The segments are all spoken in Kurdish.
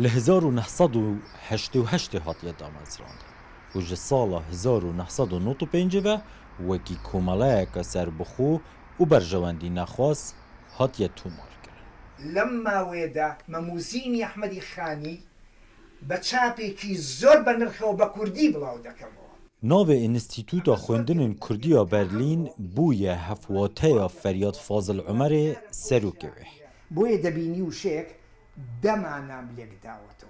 Li hezar û neh sed û heştê û heştê hatiye damezrandin û ji sala hezar û neh sed û nod û pêncî ve wekî komeleyeke serbixwe û berjewendî nexwaz hatiye tomarkirin. Lem mawê de Memûzînî Ehmedî Xanî Bi çapekî zor be nirxe û be kurdî bilaw dekemewa. Navê Înstîtûta Xwendinên Kurdî ya Berlîn bûye hevwateya Feryad Fazil Umerê serokê wê. Bûye debînî û şêk de mana min lêk dawa to.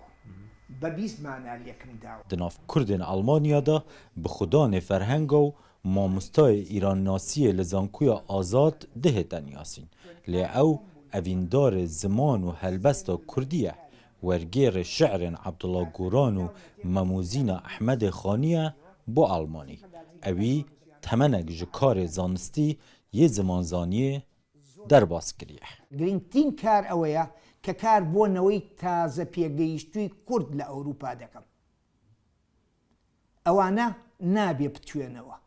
Be bîst mana lêk min dawa. Di nav Kurdên Elmanya de bi xwe danê ferhenga û mamostayê îrannasiyê li Zankuya Azad dihêta niyasîn. Lê ew evîndarê ziman û helbesta kurdî ye. Wergêrê şi'rên Abdullah Guran û Mamuzîna Ehmedê Xaniye bo Almanî. Ewî temenek ji karê zanistî yê zimanzaniyê derbas kiriye. Girîngtîn kar ew ye ke kar bo neweyî tazepêgehîştûyî kurd li Ewropa dikim. Ew ane nabê bitûyenewe.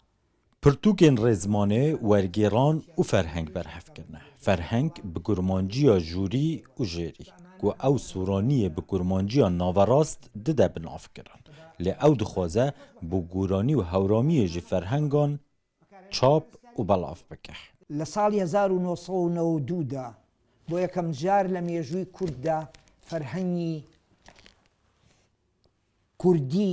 Pirtûkên rêzmanê wergêran û ferheng berhev kirine. Ferheng bi kurmanciya jûrî û jêrî ku ew soraniyê bi kurmanciya naverast dide bi nav kirin. Lê ew dixwaze bo goranî û hewramiyê jî ferhengan çap û belav bike. Li salî hezar û neh sed û neh û du de bo yekem car li mêjûyî kurd de ferhengî kurdî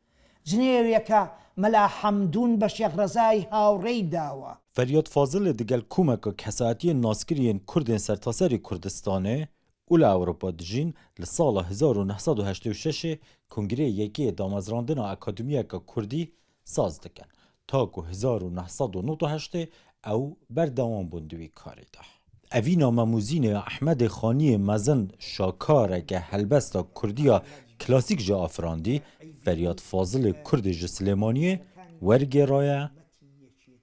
Jinêreke Mela Hemdûn be Şêx Rezayê hawrêy dawa. Feryad Fazilê di gel komeka kesayetiyên naskirî yên kurd ên sertaserî Kurdistanê û li Ewropa dijîn li sala hezar û neh sed û heştê û şeşê kongreyê yekê yê damezrandina akademiyeke kurdî saz dikin. Ta ku hezar û neh sed û nod û heştê ew berdewam bûn di wî karê de. Evîna me Muzînê ya Ehmedê Xaniyê mezin şakareke helbesta Kurdiya klasîk jî afirandî, Feryad Fazilê Kurdê ji Silêmaniyê wergêraye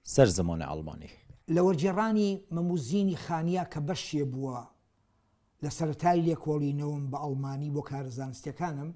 ser zimanê Elmanî. Li wergêranî me Muzînî Xaniya ke beşê bûa li seretayî lêkolînewim bi Elmanî bo kar zanistîyekan im,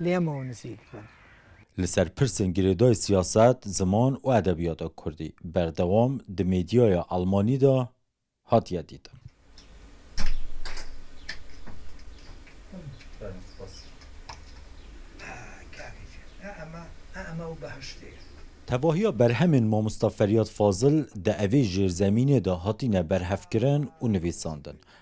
lê em ew nizîk bin. Li ser pirsên girêdayî siyaset, ziman û edebiyata kurdî berdewam di medyaya elmanî de hatiye dîtin. Tevahiya berhemên Mamosta Feryad Fazil di evê jêrzemînê de hatîne berhevkirin û nivîsandin.